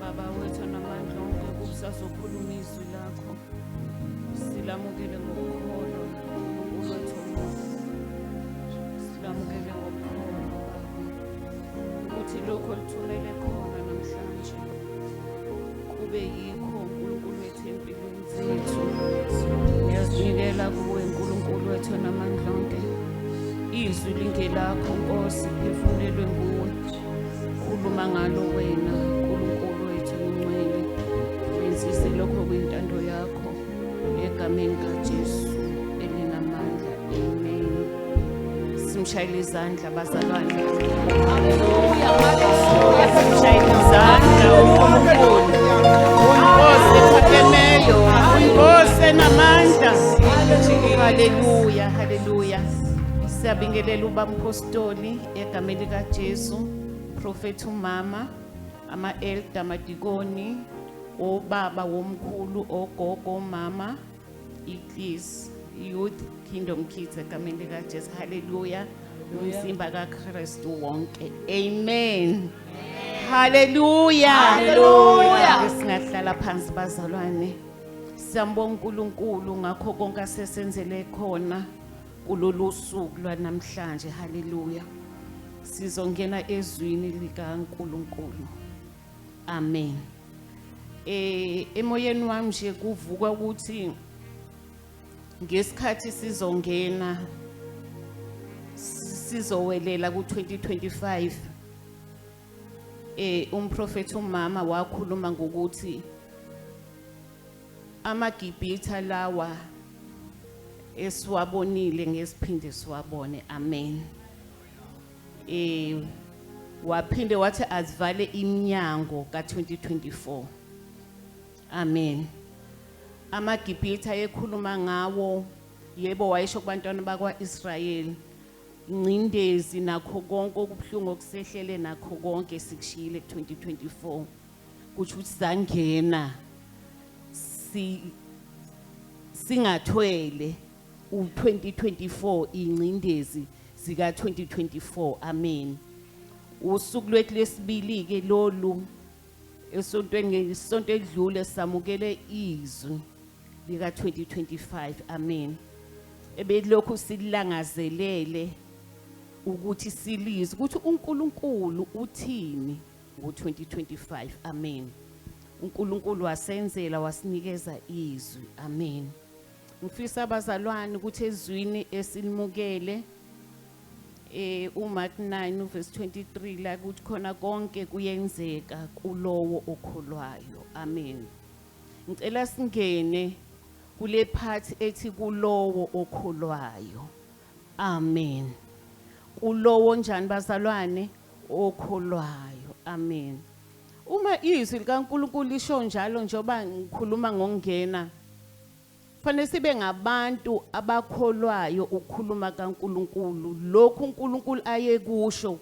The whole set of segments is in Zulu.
Baba wethu namandla onke kusazokhuluma izwi lakho silamukele ngokukholo uNkulunkulu wethu silamukele ngokukholo ukuthi lokho lithumele khona namhlanje kube yikho uNkulunkulu wethu empilweni zethu ngiyazinikela kuwe nkulunkulu wethu namandla onke izwi lingelakho nkosi phefumulelwe nguwe khuluma ngalo wena nkulunkulu wethu ngcwele wenzise lokho kwintando yakho egameni kajesu simshayele izandla bazalwane haleluya haleluya simshayele izandla uNkulunkulu unkosi ephakemeyo unkosi enamandla haleluya haleluya siyabingelela ubamphostoli egameni likaJesu profethi umama ama-elda amadikoni obaba womkhulu ogogo omama Please youth kingdom kids egameni likajesu haleluya umzimba kakristu wonke amen haleluya Hallelujah. singahlala phansi bazalwane siyambonga unkulunkulu ngakho konke asesenzele khona kulolu suku lwanamhlanje haleluya sizongena ezwini likankulunkulu Amen. Eh emoyeni wami nje kuvuka ukuthi ngesikhathi sizongena sizowelela ku-2025 eh umprofeti umama wakhuluma ngokuthi amagibhitha lawa esiwabonile ngesiphinde siwabone amen eh waphinde wathi azivale iminyango ka-2024 amen amagibhithe ayekhuluma ngawo yebo wayesho kubantwana bakwa-israyeli ingcindezi nakho konke okubuhlungu okusehlele nakho konke sikushiyile ku-2024 kusho ukuthi sangena si singathwele u-2024 ingcindezi zika-2024 amen usuku lwethu lwesibili-ke lolu esontweni ngesonto edlule samukele izwi lika-2025 amen ebelokhu silangazelele ukuthi silizwe ukuthi uNkulunkulu uthini ngo-2025 amen uNkulunkulu wasenzela wasinikeza izwi amen Ngifisa abazalwane ukuthi ezwini esinimukele eh uMark 9 verse 23 la kuthi khona konke kuyenzeka kulowo okholwayo. Amen. Ngicela singene kule part ethi kulowo okholwayo. Amen. Kulowo njani bazalwane okholwayo. Amen. Uma izwi likaNkuluNkulu lisho njalo njengoba ngikhuluma ngokungena Fanele sibe ngabantu abakholwayo ukukhuluma kaNkuluNkulu lokhu uNkuluNkulu ayekusho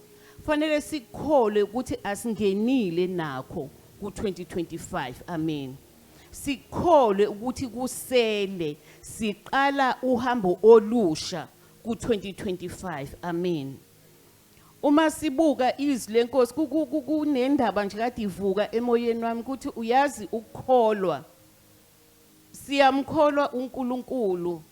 fanele sikholwe ukuthi asingenile nakho ku-2025 amen sikholwe ukuthi kusele siqala uhambo olusha ku-2025 amen uma sibuka izwi lenkosi kunendaba nje kade ivuka emoyeni wami ukuthi uyazi ukukholwa Siyamkholwa uNkulunkulu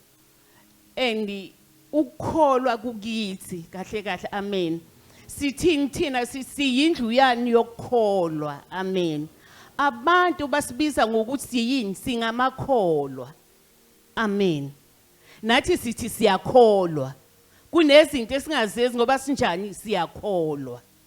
and ukukholwa kukithi kahle kahle amen. Sithini thina siyindlu yani yokukholwa amen. Abantu basibiza ngokuthi yini singamakholwa. Amen. Nathi sithi siyakholwa. Kunezinto esingazezi ngoba sinjani siyakholwa.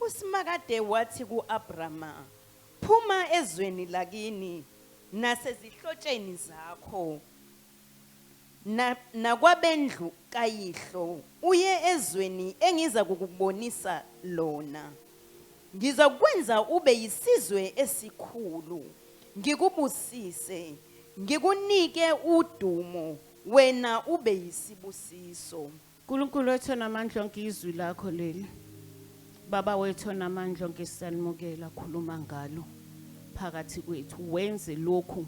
USimakade wathi ku-Abrama, Phuma ezweni lakini nasezihlotsheni zakho na, nakwabendlu kayihlo uye ezweni engiza kukubonisa lona. Ngizakwenza ube yisizwe esikhulu, ngikubusise, ngikunike udumo, wena ube yisibusiso. Nkulunkulu wethu onamandla onke izwi lakho leli. Baba wethu onamandla onke siyanimukela khuluma ngalo phakathi kwethu wenze lokhu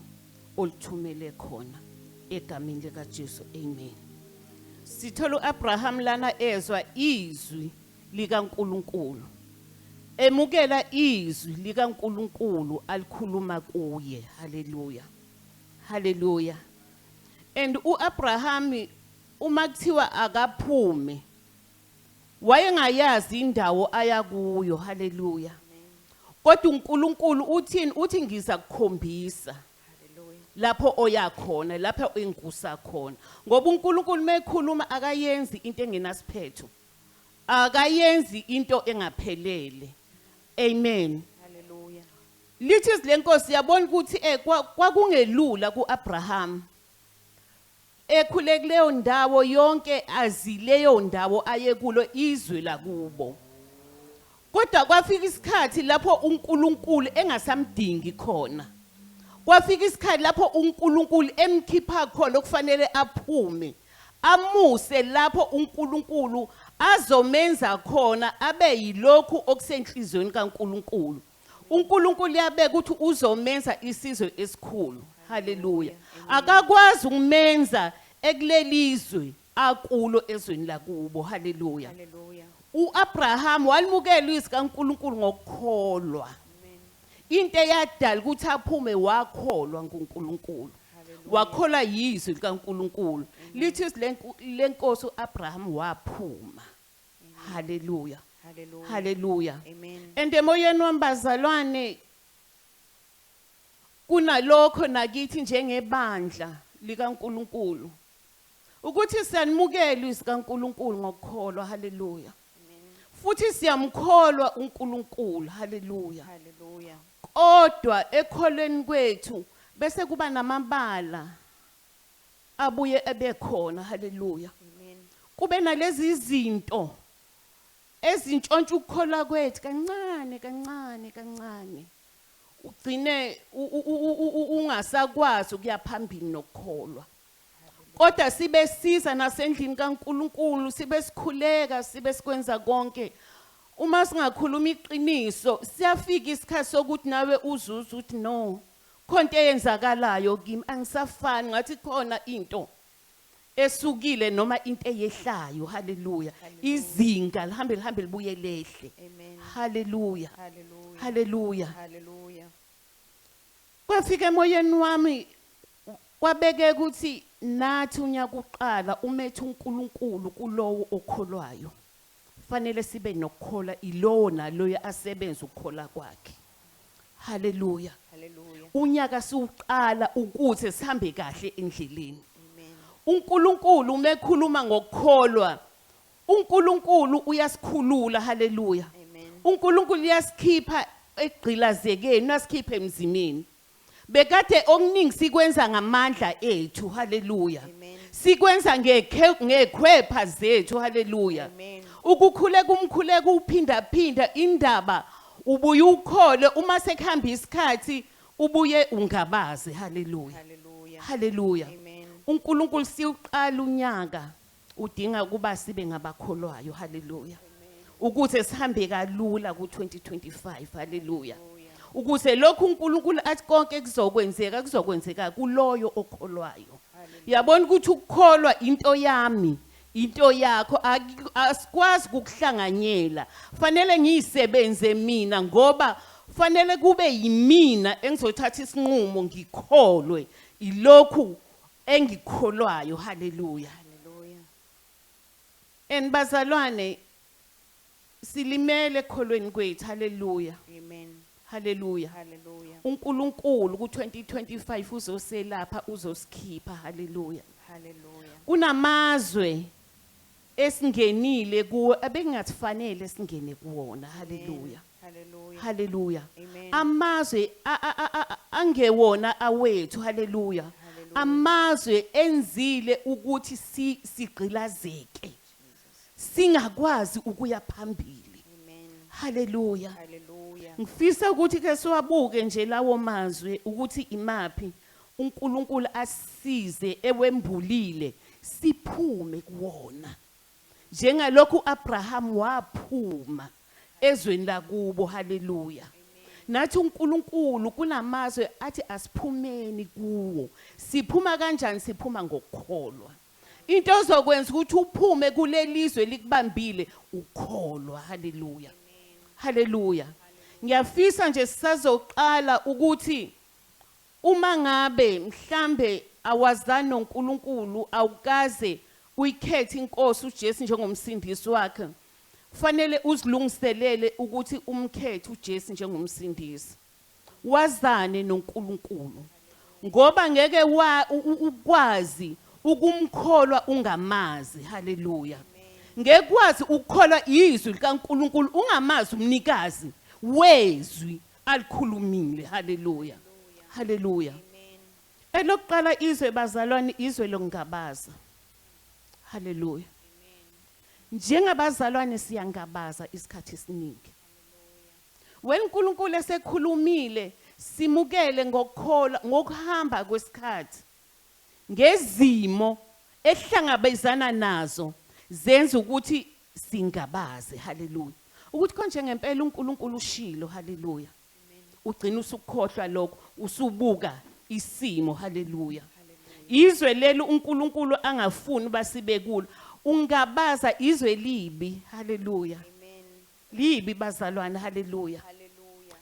olithumele khona egamini lika Jesu amen. Sithola uAbraham lana ezwa izwi lika Nkulunkulu. Emukela izwi lika Nkulunkulu alikhuluma kuye. Hallelujah. Hallelujah. And uAbraham Uma kuthiwa akaphume wayengayazi indawo aya kuyo. Haleluya. Kodwa uNkulunkulu uthini? Uthi ngiza kukhombisa lapho oya khona, lapha engusa khona. Ngoba uNkulunkulu mekhuluma akayenzi into engenasiphetho. Akayenzi into engaphelele. Amen. Haleluya. Lithi izilenkosi yabona ukuthi eh kwakungelula kuAbraham Ekhule kuleyo ndawo yonke azi leyo ndawo ayekulo izwe lakubo. Kodwa kwafika isikhathi lapho uNkulunkulu engasamdingi khona. Kwafika isikhathi lapho uNkulunkulu emkhipha khona okufanele aphume. Amuse lapho uNkulunkulu azomenza khona abe yilokhu okusenhlizweni kaNkulunkulu. uNkulunkulu yabeka ukuthi uzomenza isizwe esikhulu haleluya akakwazi ukumenza ekulelizwe akulo ezweni lakubo haleluya uAbraham walimukela izwi kaNkuluNkulu ngokukholwa into eyadala ukuthi aphume wakholwa nguNkulunkulu wakholwa yizwi likaNkuluNkulu lithi lenkosi uAbraham waphuma Hallelujah. Hallelujah. Hallelujah. Amen. And emoyeni wami bazalwane kunalokho nakithi njengebandla likaNkuluNkulu ukuthi siyanimukela izwi kaNkuluNkulu ngokukholwa haleluya futhi siyamkholwa uNkulunkulu haleluya haleluya kodwa ekholweni kwethu bese kuba namabala abuye ebekhona haleluya Amen. kube nalezi zinto ezintshontsha ukukholwa kwethu kancane kancane kancane ugcine u- u- u- u- u- ungasakwazi ukuya phambili nokukholwa kodwa sibe siza nasendlini kaNkuluNkulu sibe sikhuleka sibe sikwenza konke uma singakhuluma iqiniso siyafika isikhathi sokuthi nawe uzuza ukuthi no Khonto eyenzakalayo kimi angisafani ngathi khona into esukile noma into eyehlayo haleluya izinga lihambe lihambe libuye lehle haleluya haleluya haleluya kwafika emoyeni wami kwabeke ukuthi nathi unyaka uqala umethe uNkulunkulu kulowo okholwayo fanele sibe nokukhola ilowo naloyo asebenza ukukhola kwakhe Hallelujah. Hallelujah. Unyaka siwuqala ukuze sihambe kahle endleleni. Amen. UNkulunkulu uma ekhuluma ngokukholwa, uNkulunkulu uyasikhulula. Hallelujah. Amen. uNkulunkulu uyasikhipha egqilazekeni, uyasikhipha emzimini. Bekade okuningi sikwenza ngamandla ethu. Hallelujah. Amen. Sikwenza ngekhe ngekhwepha zethu. Hallelujah. Amen. Ukukhuleka umkhuleko uphinda phinda indaba ubuye ukhole uma sekuhamba isikhathi ubuye ungabaze. Hallelujah. Hallelujah. Hallelujah. Amen. uNkulunkulu siwuqala unyaka Udinga ukuba sibe ngabakholwayo. Hallelujah. Ukuze sihambe kalula ku-2025. Hallelujah. Ukuze lokhu uNkulunkulu athi konke kuzokwenzeka kuzokwenzeka kuloyo okholwayo. Yabona ukuthi ukukholwa into yami into yakho aki- asikwazi ukukuhlanganyela fanele ngiyisebenze mina ngoba fanele kube yimina engizothatha isinqumo ngikholwe ilokhu engikholwayo haleluya and bazalwane silimele ekholweni kwethu haleluya amen haleluya haleluya uNkulunkulu ku2025 uzoselapha uzosikhipha haleluya haleluya kunamazwe esingenile kuwo ebekungafanele singene kuwona haleluya Hallelujah. haleluya Amen. amazwe a- a- a- a- angewona awethu haleluya Hallelujah. amazwe enzile ukuthi si- sigqilazeke singakwazi ukuya phambili Amen. haleluya Hallelujah. ngifisa ukuthi ke siwabuke nje lawo mazwe ukuthi imaphi uNkulunkulu asisize ewembulile siphume kuwona njengalokhu uAbraham waphuma ezweni lakubo haleluya nathi uNkulunkulu kunamazwe athi asiphumeni kuwo siphuma kanjani siphuma ngokukholwa into ezokwenza ukuthi uphume kulelizwe likubambile ukholwa haleluya haleluya ngiyafisa nje sisazoqala ukuthi Umangabe mhlambe awazani noNkulunkulu awukaze uyikhethe iNkosi uJesu njengomsindisi wakhe kufanele uzilungiselele ukuthi umkhethe uJesu njengomsindisi wazane noNkulunkulu ngoba ngeke ukwazi ukumkholwa ungamazi haleluya ngekwazi ukukholwa izwi likaNkulunkulu ungamazi umnikazi wezwi Alikhulumile. Haleluya. Haleluya. Elokuqala izwe bazalwane izwe lokungabaza. Haleluya. Njengabazalwane siyangabaza isikhathi esiningi. When uNkulunkulu esekhulumile simukele ngokukholwa ngokuhamba kwesikhathi ngezimo ehlangabezana nazo zenza ukuthi Singabaze, haleluya, ukuthi konje ngempela uNkulunkulu ushilo, haleluya. Ugcina usukukhohlwa lokho, usubuka isimo, haleluya. Izwe leli uNkulunkulu angafuni basibe kulo. Ungabaza izwe libi, haleluya. Libi bazalwane, haleluya.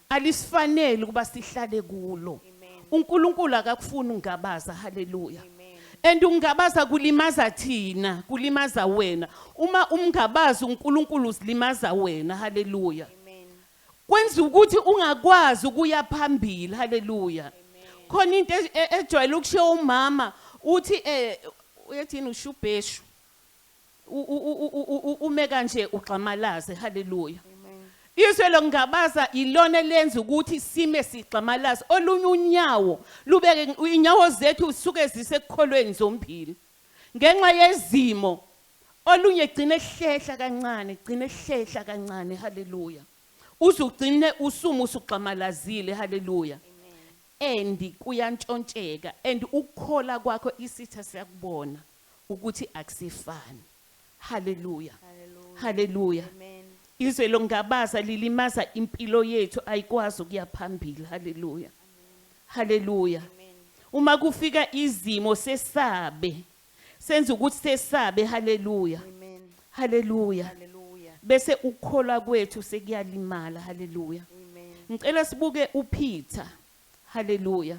alisifaneli ukuba sihlale kulo uNkulunkulu akakufuni ungabaza haleluya and ungabaza kulimaza thina kulimaza wena uma umngabazi uNkulunkulu uzilimaza wena haleluya kwenza ukuthi ungakwazi ukuya phambili haleluya khona into e, e, ejwayele ukushiya umama uthi eh uyathini ushubheshu ume kanje ugxamalaze haleluya izwe lokungabaza yilona elenza ukuthi sime sigxamalaze olunye unyawo lubeke inyawo zethu suke zisekukholweni zombili ngenxa yezimo olunye gcine hlehla kancane gcine hlehla kancane haleluya uzugcine usumu usugxamalazile haleluya and kuyantshontsheka and ukukhola kwakho isitha siyakubona ukuthi akusefani. Hallelujah. Hallelujah. Hallelujah. Amen. Izwe longabaza lilimaza impilo yethu ayikwazi ukuya phambili. Hallelujah. Hallelujah. Amen. Uma kufika izimo sesabe. Senza ukuthi sesabe. Hallelujah. Amen. Hallelujah. Hallelujah. Bese ukukholwa kwethu sekuyalimala. Hallelujah. Amen. Ngicela sibuke uPeter. Hallelujah.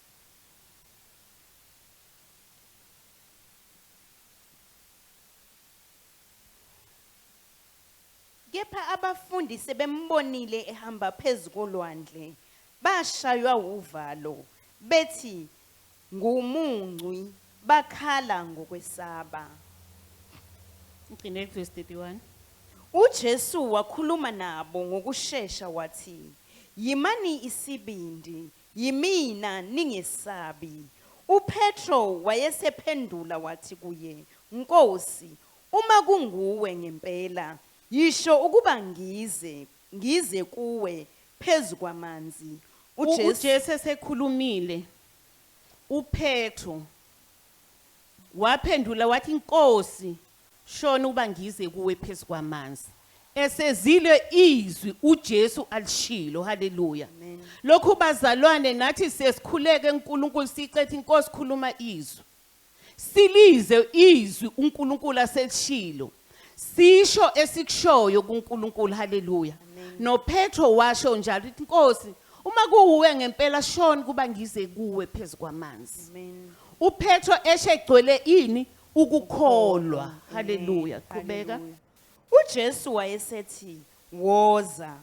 Kepha abafundi sebembonile ehamba phezu kolwandle, bashaywa wuvalo, bethi, Ngumuncwi, bakhala ngokwesaba. Ngigcine kuvesi 31. UJesu wakhuluma nabo ngokushesha wathi, Yimani isibindi, Yimina, ningesabi. UPetro wayesephendula wathi kuye, Nkosi, uma kunguwe ngempela, yisho ukuba ngize, ngize kuwe phezu kwamanzi. U, uJesu esekhulumile, uPetro waphendula wathi, Nkosi, Shona uba ngize kuwe phezu kwamanzi. Esezile izwi uJesu alishilo. Haleluya. Lokhu bazalwane nathi sesikhuleke uNkulunkulu sicethe inkosi khuluma izwi. Silize izwi uNkulunkulu aselishilo. Sisho esikushoyo kuNkulunkulu. Haleluya. NoPetro washo njalo uthi inkosi uma kuwuwe ngempela shona kuba ngize kuwe phezu kwamanzi. Amen. UPetro eshe egcwele ini? Ukukholwa. Haleluya. Qhubeka. UJesu wayesethi, Woza.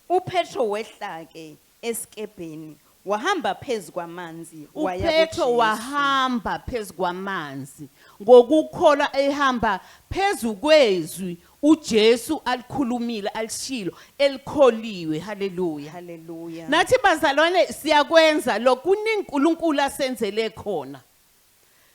UPetro wehla-ke esikebheni, wahamba phezu kwamanzi, waya UPetro kuJesu. wahamba phezu kwamanzi ngokukholwa ehamba phezu kwezwi uJesu alikhulumile, alishilo, elikholiwe. Haleluya. Haleluya. Nathi bazalwane siyakwenza lokhu kuningi uNkulunkulu asenzele khona.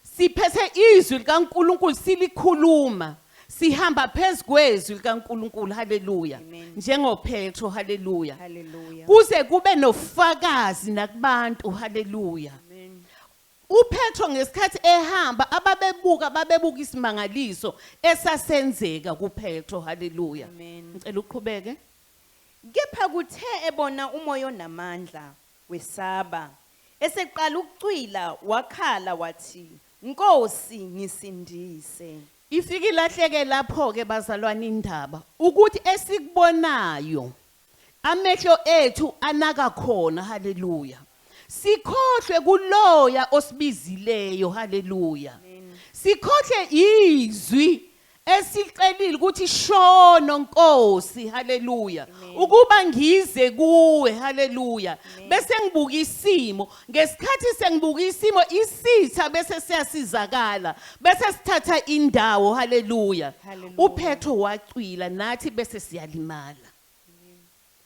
Siphethe izwi likaNkulunkulu silikhuluma. Sihamba phezu kwezwi likaNkulunkulu. Haleluya. Amen. NjengoPetro. Haleluya. Hallelujah. Kuze kube nofakazi nakubantu. Haleluya. Amen. UPetro ngesikhathi ehamba ababebuka babebuka isimangaliso esasenzeka kuPetro. Haleluya. Amen. Ngicela uqhubeke. Kepha kuthe ebona umoya onamandla Wesaba. Eseqala ukucwila wakhala wathi, Nkosi, ngisindise! Ifike ilahleke lapho-ke, bazalwane, indaba, ukuthi esikubonayo, amehlo ethu anaka khona, haleluya, sikhohlwe kuLoya osibizileyo, haleluya, sikhohlwe iZwi esicelile ukuthi shono Nkosi haleluya ukuba ngize kuwe haleluya bese ngibuka isimo ngesikhathi sengibuka isimo isitha bese siyasizakala bese sithatha indawo haleluya uphetho wacwila nathi bese siyalimala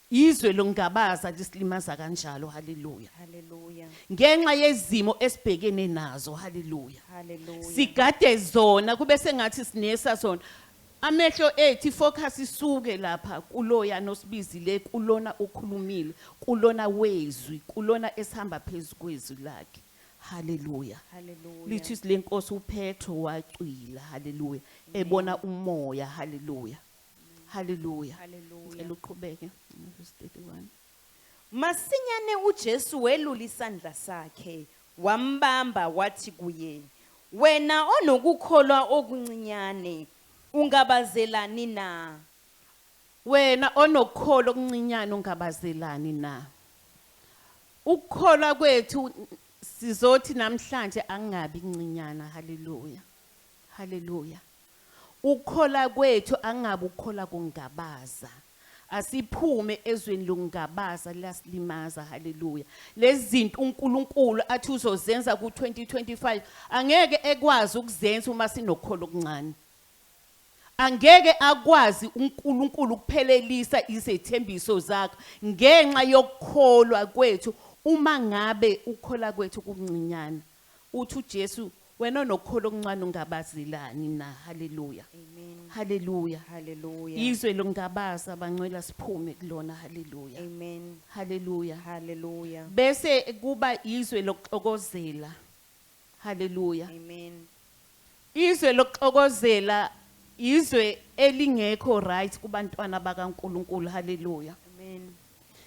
Izwe longabaza lisilimaza kanjalo. Haleluya. Hallelujah. Ngenxa yezimo esibhekene nazo. Haleluya. Hallelujah. Sigade zona kube sengathi sinesa zona. Amehlo ethu ifocus isuke lapha kuloya nosibizile kulona okhulumile kulona wezwi kulona esihamba phezukwezwi lakhe. Hallelujah. Hallelujah. Lithi isilenkosi uPetro wacwila. Hallelujah. Ebona umoya. Hallelujah. Haleluya. Haleluya. Ngicela uqhubeke verse 31. Masinyane uJesu welula isandla sakhe, wambamba wathi kuye, Wena onokukholwa okuncinyane, ungabazelani na? Wena onokukholo okuncinyane ungabazelani na? Ukukholwa kwethu sizothi namhlanje angabi ncinyana. Haleluya. Haleluya. Ukukhola kwethu angabi ukukhola kungabaza. Asiphume ezweni lokungabaza liyasilimaza hallelujah. Lezinto uNkulunkulu athi uzozenza ku 2025 angeke ekwazi ukuzenza uma sinokholo okuncane. Angeke akwazi uNkulunkulu ukuphelelisa izethembiso zakho ngenxa yokukholwa kwethu uma ngabe ukukhola kwethu kuncinyana. Uthi uJesu wena onokholo okuncane ungabazelani na? Haleluya. Amen. Haleluya. Hallelujah. Izwe longabaza bancwela siphume kulona. Haleluya. Amen. Haleluya. Hallelujah. Bese kuba izwe lokuxokozela. Haleluya. Amen. Izwe lokuxokozela izwe elingekho right kubantwana baka Nkulunkulu hallelujah Amen.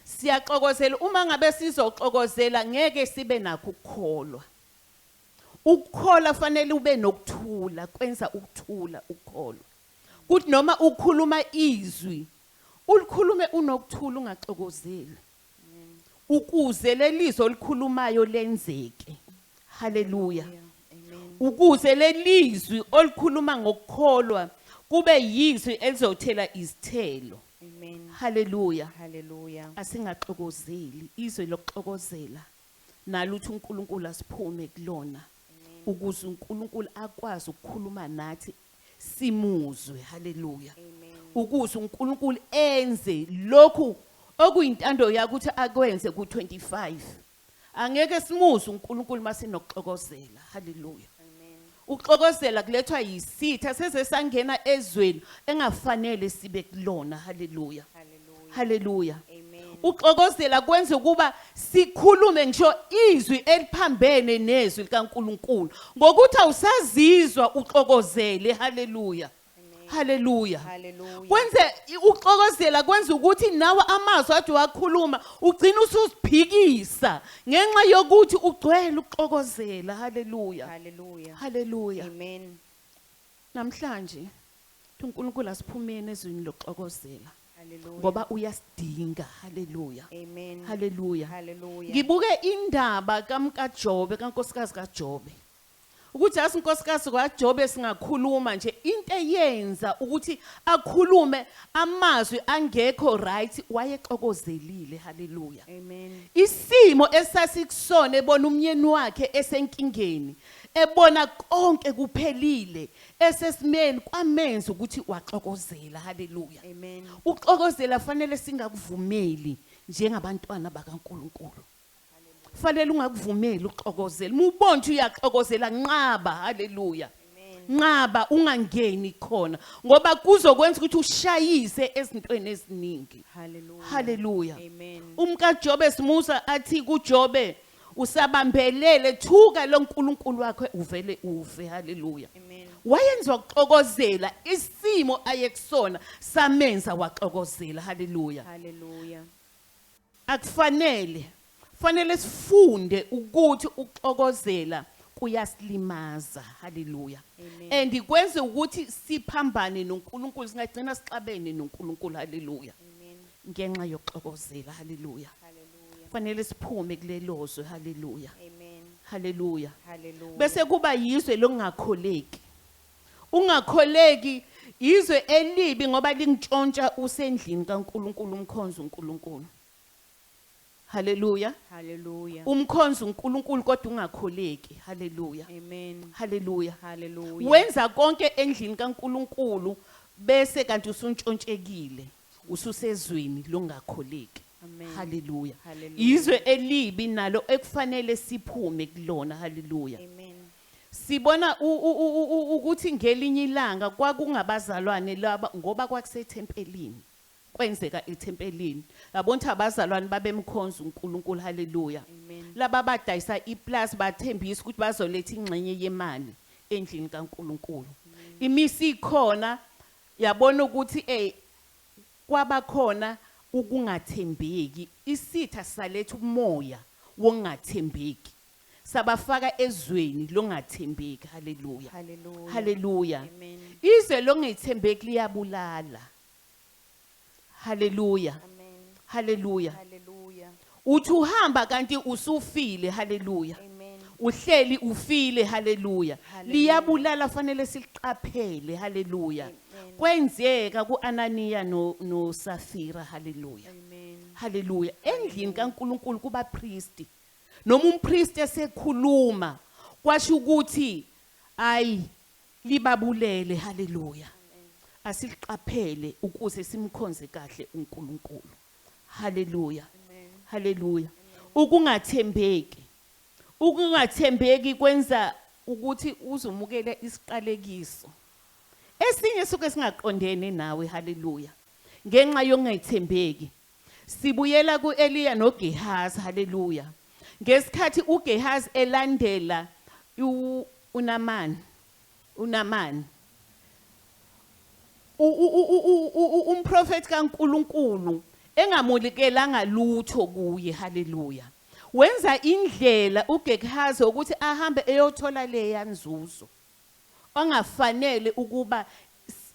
Siyaxokozela uma ngabe sizoxokozela ngeke sibe nakho ukukholwa. Ukukholwa fanele ube nokuthula kwenza ukuthula ukukholwa. Kuthi noma ukhuluma izwi ulikhulume unokuthula ungaxokozeli. Ukuze lelizwi olikhulumayo lenzeke. Haleluya. Ukuze lelizwi olikhuluma ngokukholwa kube yizwi elizothela izithelo. Amen. Haleluya. Haleluya. Asingaxokozeli izwe lokuxokozela naluthi uNkulunkulu asiphume kulona. Ukuze uNkulunkulu akwazi ukukhuluma nathi simuzwe haleluya ukuze uNkulunkulu enze lokhu okuyintando yakhe ukuthi akwenze ku25 angeke simuze uNkulunkulu masinokuxokozela haleluya ukuxokozela kulethwa yisitha seze sangena ezweni engafanele sibe kulona haleluya Hallelujah. Uxokozela kwenza ukuba sikhulume ngisho izwi eliphambene nezwi likaNkuluNkulu ngokuthi awusazizwa uxokozele. Hallelujah. Hallelujah. Kwenze uxokozela kwenza ukuthi nawe amazwi athi wakhuluma ugcina usuziphikisa ngenxa yokuthi ugcwele ukuxokozela. Hallelujah. Hallelujah. Hallelujah. Amen. Namhlanje thi uNkulunkulu asiphumeni ezwini lokuxokozela Hallelujah. ngoba uyasidinga. Haleluya. Amen. Haleluya. Hallelujah. Ngibuke indaba kamkaJobe kankosikazi kaJobe. Ukuthi asi inkosikazi kwaJobe singakhuluma nje into eyenza ukuthi akhulume amazwi angekho right wayexokozelile. Haleluya. Amen. Isimo esasikusona ebona umyeni wakhe esenkingeni Ebona konke kuphelile esesimeni kwamenza ukuthi waxokozela. Haleluya. Amen. Uxokozela fanele singakuvumeli njengabantwana bakaNkuluNkulu. Fanele ungakuvumeli uxokozela. Mubonje uyaxokozela nqaba. Haleluya. Nqaba ungangeni khona ngoba kuzokwenza ukuthi ushayise ezintweni eziningi. Haleluya. Haleluya. Amen. Umka Jobe simusa athi kuJobe Usabambelele thuka lo Nkulunkulu wakho uvele uve haleluya. Amen. Wayenza ukuxokozela isimo ayekusona samenza waxokozela haleluya. Hallelujah. Akufanele fanele sifunde ukuthi ukuxokozela kuyasilimaza haleluya Amen. and kwenze ukuthi siphambane noNkulunkulu singagcina sixabene noNkulunkulu haleluya Ngenxa yokuxokozela. Haleluya. Hallelujah. Fanele siphume kulelozwe. Haleluya. Amen. Haleluya. Hallelujah. Bese kuba yizwe lokungakholeki. Ungakholeki izwe elibi ngoba lingitshontsha usendlini kaNkuluNkulu umkhonza uNkuluNkulu. Haleluya. Hallelujah. Umkhonza uNkuluNkulu kodwa ungakholeki. Haleluya. Amen. Haleluya. Hallelujah. Wenza konke endlini kaNkuluNkulu bese kanti usuntshonshekile. Ususezweni lokungakholeki. Amen. Hallelujah. Hallelujah. Yizwe elibi nalo ekufanele siphume kulona. Hallelujah. Amen. Sibona u- u- u- u- u- ukuthi ngelinye ilanga kwakungabazalwane laba ngoba kwakusethempelini. Kwenzeka ethempelini. Yabona ukuthi abazalwane babemkhonza uNkulunkulu. Hallelujah. Amen. Laba badayisa iplazi bathembisa ukuthi bazoletha ingxenye yemali endlini kaNkulunkulu. Imisi ikhona Yabona ukuthi ey kwabakhona ukungathembeki isitha saletha umoya wokungathembeki sabafaka ezweni longathembeki haleluya Hallelujah. haleluya Amen. izwe longethembeki liyabulala Hallelujah. Amen. Hallelujah. Hallelujah. Uthi uhamba kanti usufile. Hallelujah. Amen. Uhleli ufile. Hallelujah. Hallelujah. Liyabulala fanele siliqaphele. Hallelujah. Amen. Kwenzeka kuAnaniya no noSafira. Hallelujah. Amen. Hallelujah. Endlini kaNkuluNkulu kubapriesti. Noma umpriest esekhuluma kwasho ukuthi ayi Libabulele haleluya asiliqaphele ukuze simkhonze kahle uNkulunkulu haleluya haleluya ukungathembeki ukungathembeki kwenza ukuthi uzomukela isiqalekiso esinye suke singaqondene nawe haleluya ngenxa yongethembeki Sibuyela ku-Eliya noGehazi, haleluya. Ngesikhathi uGehazi elandela uNamani, uNamani, umprofethi kaNkulunkulu engamulikelanga lutho kuye haleluya wenza indlela uGehazi ukuthi ahambe eyothola leya nzuzo ongafanele ukuba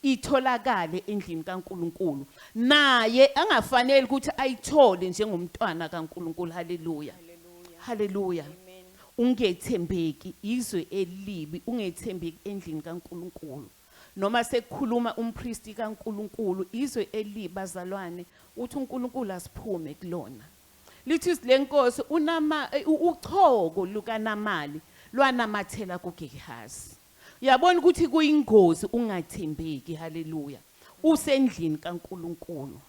itholakale endlini kaNkulunkulu, naye angafanele ukuthi ayithole njengomntwana kaNkulunkulu. Haleluya! Haleluya! Ungethembeki izwe elibi, ungethembeki endlini kaNkulunkulu. Noma sekukhuluma umpristi kaNkulunkulu, izwe elibi bazalwane, uthi uNkulunkulu asiphume kulona. Lethusi lenkosi uNama, uchoko lukaNamali lwanamathela kuGehazi. Uyabona ukuthi kuyingozi ukungathembeki, haleluya, usendlini kaNkulunkulu.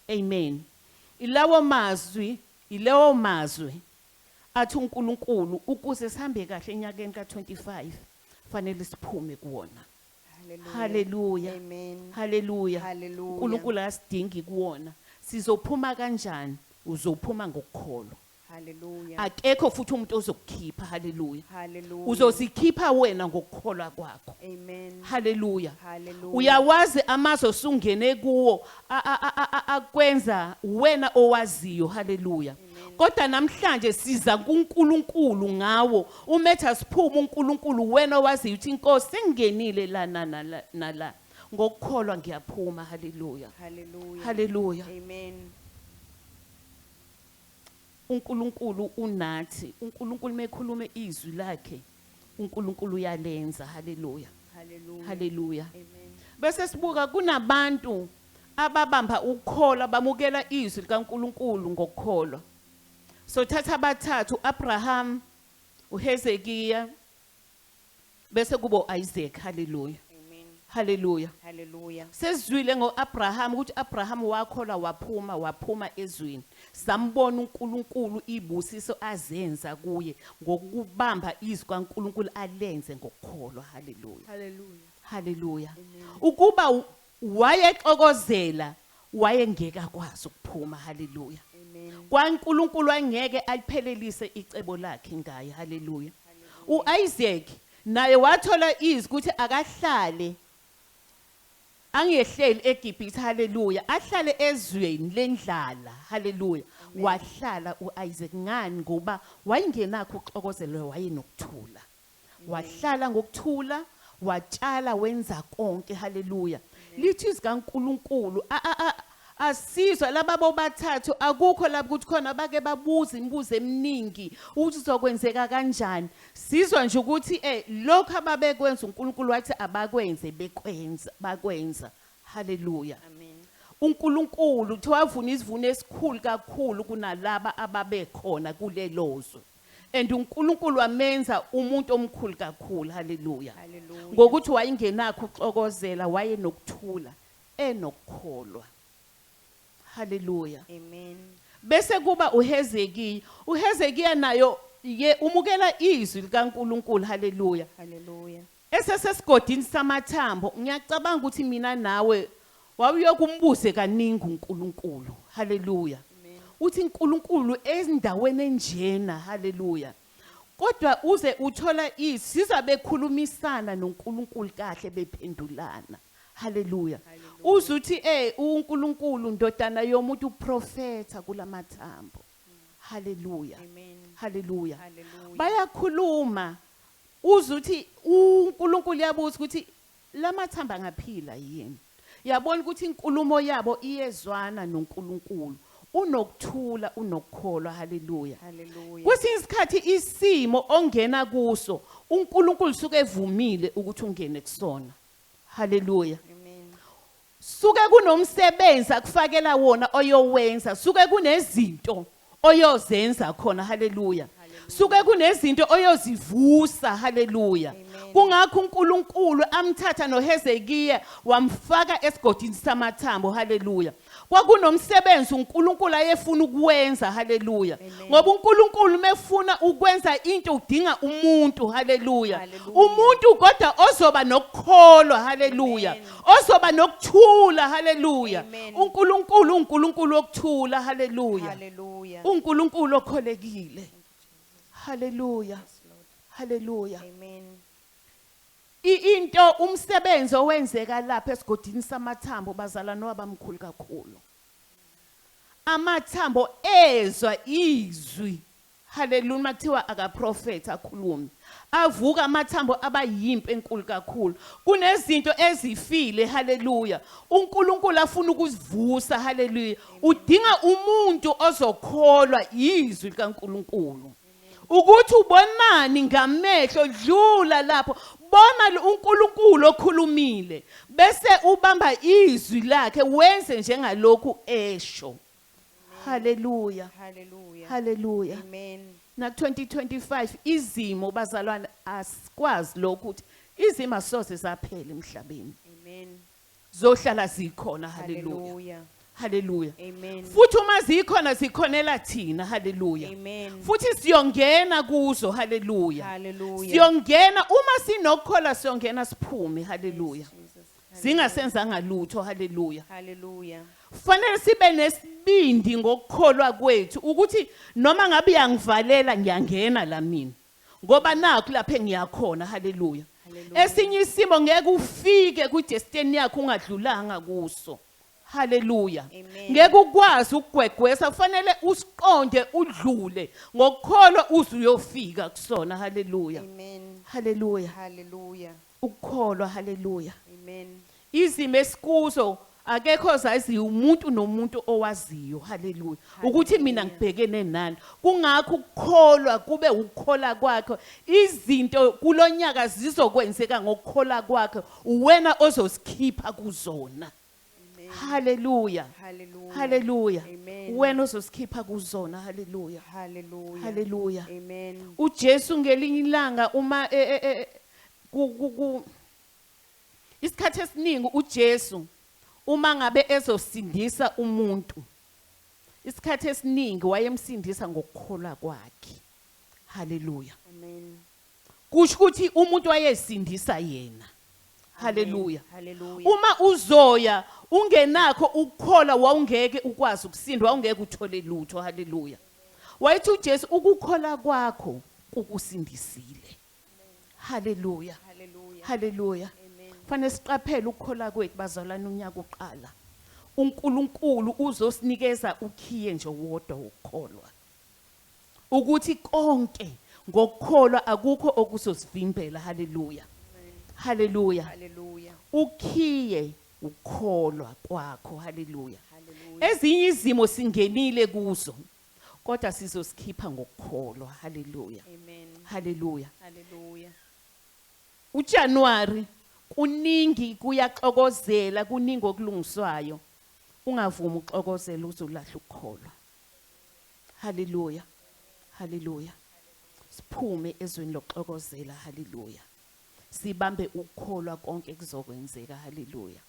Amen. Ilawo mazwi, ilewo mazwi athi uNkulunkulu ukuze sihambe kahle enyakeni ka-25 fanele siphume kuwona. Haleluya. Amen. Haleluya. Hallelujah. uNkulunkulu akasidingi kuwona sizophuma kanjani uzophuma ngokukholwa Hallelujah. akekho futhi umuntu ozokukhipha haleluya Hallelujah. uzozikhipha wena ngokukholwa kwakho Amen. haleluya Hallelujah. uyawazi amazwi osungene kuwo a- a- a- a- a- akwenza wena owaziyo haleluya kodwa namhlanje siza kuNkulunkulu ngawo uma ethi asiphume uNkulunkulu wena owaziyo ukuthi inkosi sengingenile la nala nala ngokukholwa ngiyaphuma haleluya Hallelujah. haleluya Amen. uNkulunkulu unathi uNkulunkulu mekhuluma izwi lakhe uNkulunkulu uyalenza haleluya haleluya bese sibuka kunabantu ababamba ukukholwa bamukela izwi likaNkuluNkulu ngokukholwa so thatha abathathu uAbraham uHezekiya bese kubo Isaac haleluya Haleluya. Haleluya. Sesizwile ngoAbraham ukuthi Abraham wakholwa waphuma waphuma ezweni. Sambona uNkulunkulu ibusiso azenza kuye ngokubamba izwi kaNkulunkulu alenze ngokukholwa. Haleluya. Haleluya. Haleluya. Ukuba wayexokozela wayengeke akwazi ukuphuma. Haleluya. KwaNkulunkulu angeke aliphelelise icebo lakhe ngaye. Haleluya. UIsaac Naye wathola izwi ukuthi akahlale angehleli eGibhithe, haleluya, ahlale ezweni lendlala, haleluya. Wahlala u-Isaac. Ngani? Ngoba wayengenakho ukuxokozela, wayenokuthula. Wahlala ngokuthula, watshala, wenza konke, haleluya. Lithi izwi kaNkulunkulu, Asizwa laba bobathathu akukho laba ukuthi khona bake babuza imibuzo eminingi ukuthi uzokwenzeka kanjani sizwa nje ukuthi eh lokho ababekwenza uNkulunkulu wathi abakwenze bekwenza bakwenza haleluya amen uNkulunkulu uthi wavuna isivuno esikhulu kakhulu kunalaba ababekhona kulelozwe and uNkulunkulu wamenza umuntu omkhulu kakhulu haleluya ngokuthi wayengenakho uxokozela wayenokuthula enokukholwa. Haleluya. Amen. Bese kuba uHezekiya. UHezekiya nayo ye umukela izwi likaNkuluNkulu. Haleluya. Haleluya. Esesesigodini samathambo ngiyacabanga ukuthi mina nawe wawuyokumbuze kaningi uNkuluNkulu. Haleluya. Uthi uNkuluNkulu endaweni enjena. Haleluya. Kodwa uze uthola isiza bekhulumisana noNkulunkulu kahle bephendulana. Hallelujah. Uze uthi eh uNkulunkulu ndodana yomuntu uprofetha kulamathambo. Hallelujah. Hallelujah. Bayakhuluma uze uthi uNkulunkulu yabuza ukuthi lamathamba angaphila yini. Yabona ukuthi inkulumo yabo iyezwana noNkulunkulu. Unokuthula, unokukholwa. Haleluya. Haleluya. Kwesinye isikhathi isimo ongena kuso uNkulunkulu suke evumile ukuthi ungene kusona. Haleluya. Amen. Suke kunomsebenzi akufakela wona oyowenza. Suke kunezinto oyozenza khona haleluya suke kunezinto oyozivusa haleluya kungakho uNkulunkulu amthatha noHezekiya wamfaka esigodini samathambo haleluya kwakunomsebenzi uNkulunkulu ayefuna ukwenza haleluya ngoba uNkulunkulu mefuna ukwenza into udinga umuntu haleluya umuntu kodwa ozoba nokukholwa haleluya ozoba nokuthula haleluya Amen. uNkulunkulu uNkulunkulu wokuthula haleluya Hallelujah. uNkulunkulu okholekile haleluya Yes, Lord. haleluya Amen. I- into umsebenzi owenzeka lapha esigodini samathambo bazalwane wabamkhulu kakhulu amathambo ezwa izwi Hallelujah uma kuthiwa akaprofethi akhulume avuka amathambo aba yimpi enkulu kakhulu kunezinto ezifile haleluya uNkulunkulu afuna ukuzivusa haleluya udinga umuntu ozokholwa izwi likaNkulunkulu ukuthi ubonani ngamehlo dlula lapho bona uNkulunkulu okhulumile bese ubamba izwi lakhe wenze njengalokhu esho Hallelujah. Hallelujah. Hallelujah. Amen. Na 2025 izimo bazalwane asikwazi lokho ukuthi izimo asoze zaphela emhlabeni. Amen. Zohlala zikhona. Hallelujah. Hallelujah. Hallelujah. Amen. Futhi uma zikhona zikhonela thina. Hallelujah. Amen. Futhi siyongena kuzo. Hallelujah. Hallelujah. Siyongena uma sinokukhola siyongena siphume. Hallelujah. Yes, Jesus. zingasenzanga lutho haleluya haleluya kufanele sibe nesibindi ngokukholwa kwethu ukuthi noma ngabe uyangivalela ngiyangena la mina ngoba nakho lapha engiyakhona haleluya esinye isimo ngeke ufike kwi-destiny yakho ungadlulanga kuso haleluya ngeke ukwazi ukugwegwesa kufanele usiqonde udlule ngokukholwa uze uyofika kusona haleluya haleluya haleluya Ukukholwa, haleluya. Amen. Izimo esikuzo akekho ozaziyo umuntu nomuntu owaziyo, haleluya, ukuthi mina Hallelujah. ngibhekene nani. Kungakho ukukholwa kube ukukhola kwakhe. Izinto kulonyaka zizokwenzeka ngokukhola kwakhe. Uwena ozosikhipha kuzona. haleluya haleluya wena ozosikhipha kuzona haleluya haleluya haleluya amen uJesu ngelinye ilanga uma e, e, e, ku isikhathi esiningi uJesu uma ngabe ezosindisa umuntu isikhathi esiningi wayemsindisa ngokukholwa kwakhe haleluya amen kusho ukuthi umuntu wayesindisa yena haleluya uma uzoya ungenakho ukukhola wawungeke ukwazi ukusinda wawungeke uthole lutho haleluya wayethi uJesu ukukhola kwakho kukusindisile haleluya haleluya fanele siqaphele ukukhola kwethu bazalwana unyaka uqala uNkulunkulu uzosinikeza ukhiye nje wodwa wokukholwa Ukuthi konke ngokukholwa akukho okuzosivimbela. Haleluya. Haleluya. Haleluya. Ukhiye ukukholwa kwakho. Haleluya. Ezinye izimo singenile kuzo kodwa sizosikhipha ngokukholwa. Haleluya. Amen. Haleluya. Haleluya. UJanuary kuningi kuyaxokozela kuningi okulungiswayo ungavumi uxokozela uzolahla ukukholwa. Hallelujah. Hallelujah. Siphume ezweni lokuxokozela. Hallelujah. Sibambe ukukholwa konke kuzokwenzeka. Hallelujah.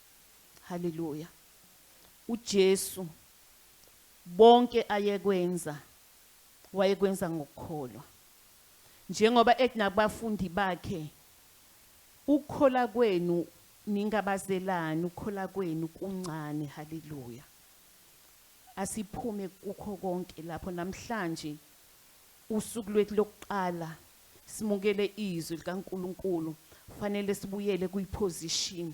Hallelujah. uJesu bonke ayekwenza wayekwenza ngokukholwa njengoba ekunabafundi bakhe ukukhola kwenu ningabazelani ukukhola kwenu kuncane haleluya Asiphume kukho konke lapho namhlanje, usuku lwethu lokuqala simukele iZwi likaNkulunkulu. Kufanele sibuyele kwi-position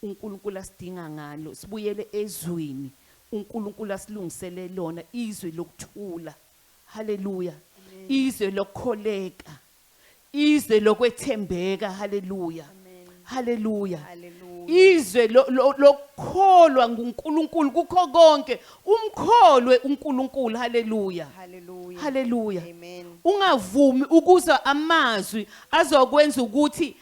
uNkulunkulu asidinga ngalo, sibuyele eZwini uNkulunkulu asilungisele lona, iZwi lokuthula. Haleluya! Izwe lokukholeka. izwe lokwethembeka haleluya haleluya izwe lokukholwa nguNkulunkulu kukho konke umkholwe uNkulunkulu haleluya haleluya ungavumi ukuza amazwi azokwenza ukuthi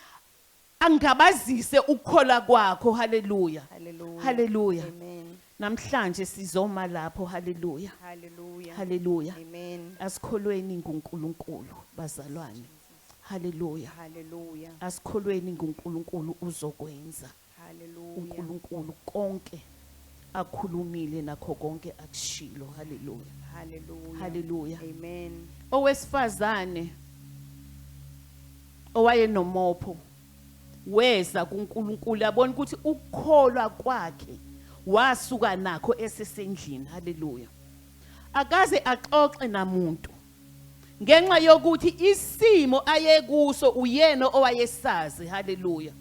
Angabazise ukukholwa kwakho. Hallelujah. Hallelujah. Hallelujah. Amen. Namhlanje sizoma lapho. Hallelujah. Hallelujah. Hallelujah. Amen. Asikholweni nguNkulunkulu bazalwane. Hallelujah. Hallelujah. Asikholweni nguNkulunkulu uzokwenza. Hallelujah. UNkulunkulu konke akhulumile nakho konke akushilo. Hallelujah. Hallelujah. Hallelujah. Amen. Owesifazane owayenomopho weza kuNkulunkulu yabona ukuthi ukukholwa kwakhe wasuka nakho esesendlini. Hallelujah. Akaze axoxe namuntu. ngenxa yokuthi isimo ayekuso uyena owayesazi haleluya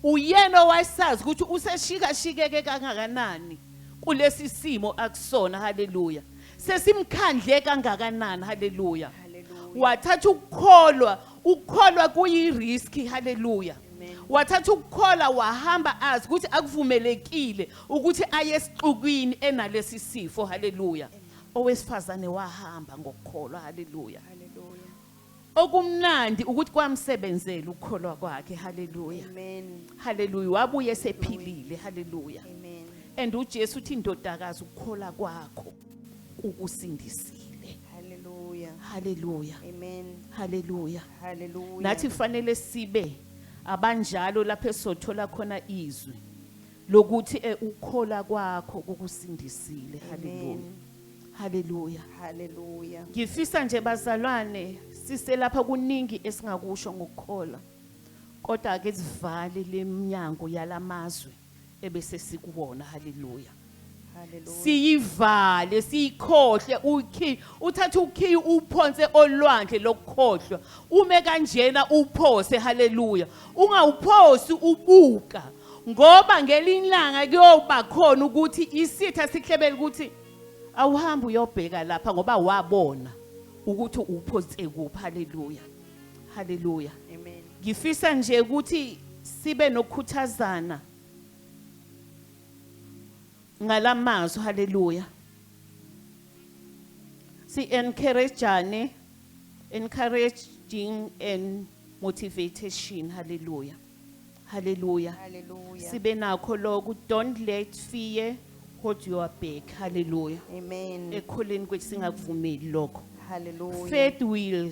uyena owayesazi ukuthi useshikashikeke kangakanani kulesi simo akusona haleluya sesimkhandle kangakanani haleluya wathatha ukukholwa ukukholwa kuyiriski haleluya wathatha ukukhola wahamba azi ukuthi akuvumelekile ukuthi aye esixukwini enalesi sifo haleluya Owesifazane wahamba ngokukholwa. Haleluya. Hallelujah. Okumnandi ukuthi kwamsebenzela ukukholwa kwakhe. Haleluya. Amen. Haleluya. Wabuye esephilile. Haleluya. Amen. And uJesu uthi indodakazi ukukhola kwakho kukusindisile. Hallelujah. Haleluya. Amen. Haleluya. Hallelujah. Nathi kufanele sibe abanjalo lapho esothola khona izwi. lokuthi e ukukhola kwakho kukusindisile haleluya haleluya haleluya ngifisa nje bazalwane siselapha kuningi esingakusho ngokukhola kodwa ake sivale leminyango yalamazwe ebese sikuwona haleluya siyivale siyikhohle ukhiyi uthatha ukhiyi uphonse olwandle lokukhohlwa ume kanjena uphose haleluya ungawuphosi ubuka ngoba ngelinye ilanga kuyoba khona ukuthi isitha sihlebele ukuthi awuhambe uyobheka lapha ngoba wabona ukuthi uphonse kuphi haleluya haleluya amen ngifisa nje ukuthi sibe nokukhuthazana ngalamazwi haleluya si encourageane encouraging and motivation haleluya haleluya Hallelujah. sibe nakho lokho don't let fear hold your back haleluya Amen. ekhuleni kwethu singakuvumeli lokho Hallelujah. faith will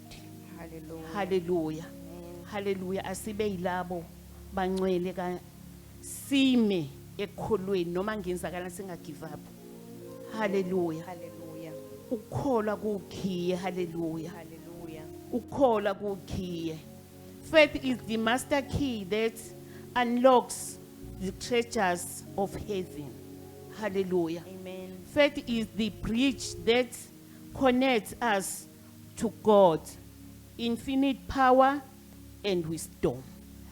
Hallelujah. Hallelujah. Hallelujah. Asibe yilabo bancwele ka sime ekukholweni noma ngenzakala singa give up. Hallelujah. Hallelujah. Ukukholwa kukhiye. Hallelujah. Hallelujah. Ukukholwa kukhiye. Faith is the master key that unlocks the treasures of heaven. Hallelujah. Amen. Faith is the bridge that connects us to God infinite power and wisdom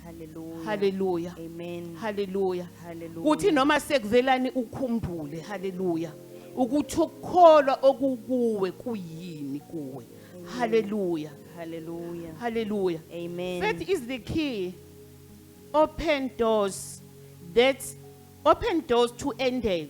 Hallelujah. Hallelujah. Amen. haleluya Hallelujah. kuthi noma sekuvelani ukhumbule haleluya ukuthi ukukholwa okukuwe kuyini kuwe haleluya Hallelujah. haleluya Amen. faith is the key open doors that open doors to ended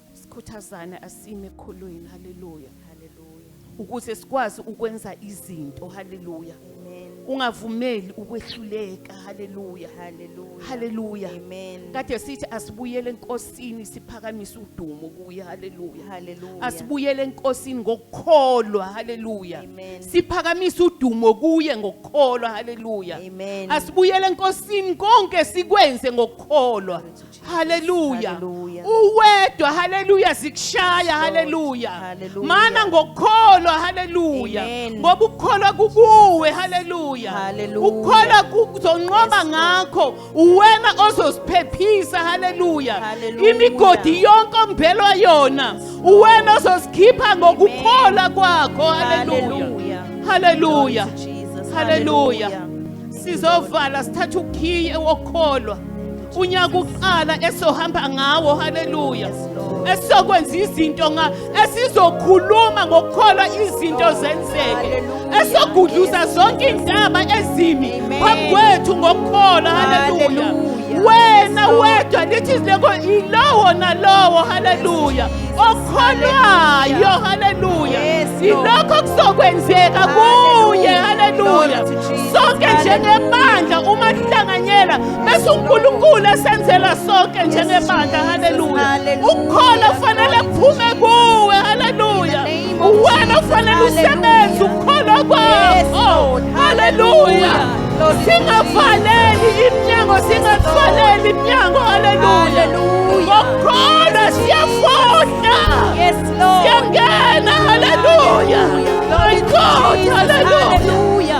sikhuthazane asime ekholweni haleluya Hallelujah. ukuze sikwazi ukwenza izinto haleluya Amen. ungavumeli ukwehluleka haleluya Hallelujah. haleluya Amen. kade sithi asibuyele enkosini siphakamise udumo kuye haleluya Hallelujah. asibuyele enkosini ngokukholwa haleluya Amen. siphakamise udumo kuye ngokukholwa haleluya Amen. asibuyele enkosini konke sikwenze ngokukholwa Hallelujah. Hallelujah. Uwedwa hallelujah zikushaya hallelujah. Hallelujah. Mana ngokukholwa hallelujah. Amen. Ngoba ukukholwa kukuwe hallelujah. Hallelujah. Ukukholwa kuzonqoba Yes, ngakho uwena ozosiphephisa hallelujah. Hallelujah. Imigodi yonke ombelwa yona uwena ozosikhipha ngokukholwa kwakho hallelujah. Hallelujah. Hallelujah. Glory to Jesus. Hallelujah. Sizovala sithatha ukhiye wokukholwa. unyaka uqala esohamba ngawo haleluya esizokwenza izinto esizokhuluma ngokukholwa izinto zenzeke esogudluza zonke iy'ntaba ezimi phambi kwethu ngokukholwa haleluya wena wedwa lithi izileko yilowo nalowo haleluya okholwayo haleluya yilokho kuzokwenzeka kuye haleluya sonke njengebandla uma sihlanganyela Bese uNkulunkulu esenzela sonke njengebandla haleluya. Ukukhola kufanele kuphume kuwe haleluya. Uwena ufanele usebenze ukukholwa kwakho haleluya. Singavaleli iminyango singavaleli iminyango haleluya. Ngokukholwa siyafohla. Siyangena haleluya. My God haleluya.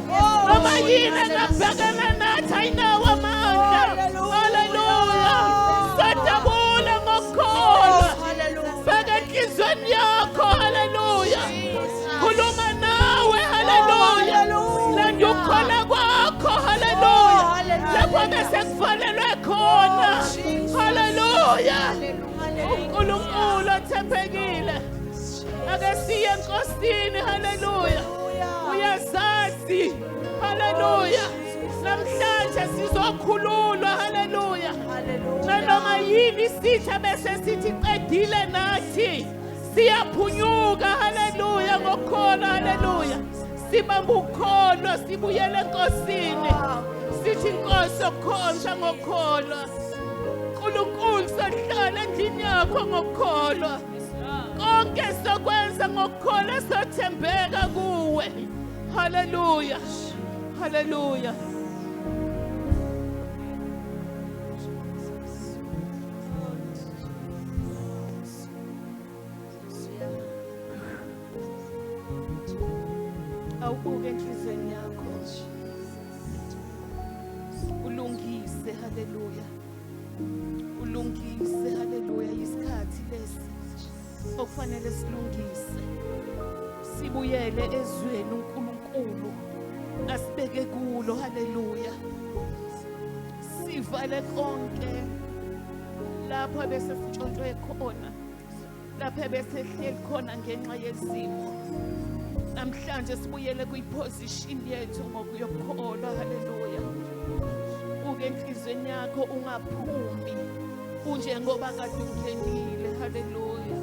noma yini engabhekana nathi ayinawo amandla haleluya sadabula ngokukholwa bheka enhlizweni yakho haleluya khuluma nawe haleluya landa ukukhola kwakho haleluya lapho bese kufanelwe khona haleluya unkulunkulu othembekile Lord. Ake siye enkosini. Hallelujah. Uyazazi. Hallelujah. Oh, Namhlanje sizokhululwa. Hallelujah. Nanoma yini isitha bese sithi qedile nathi. Siyaphunyuka. Hallelujah. Ngokhona. Hallelujah. Sibamba ukholo sibuyele enkosini. Sithi inkosi okhonza ngokholo. uNkulunkulu sahlala endlini yakho ngokukholwa konke sokwenza ngokukholwa sothembeka kuwe haleluya haleluya awubuke enhlizweni yakho ulungise haleluya ulungise haleluya isikhathi lesi okufanele silungise sibuyele ezweni uNkulunkulu asibeke kulo haleluya sivale konke lapho bese sitshontshwe khona lapha besehleli khona ngenxa yezimo namhlanje sibuyele kwiposition yethu ngokuyokholwa haleluya uke enhlizweni yakho ungaphumi unjengoba kade ungenile haleluya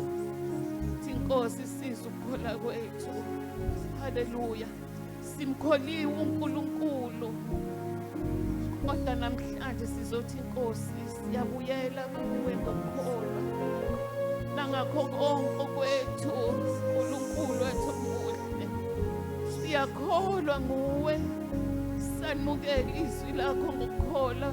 inkosi siza ukukhola kwethu haleluya Simkholiwe uNkulunkulu. Kodwa namhlanje sizothi inkosi siyabuyela kuwe ngokholwa. Nangakho konke kwethu uNkulunkulu wethu muhle. Siyakholwa nguwe. Sanimukela izwi lakho ngokukholwa.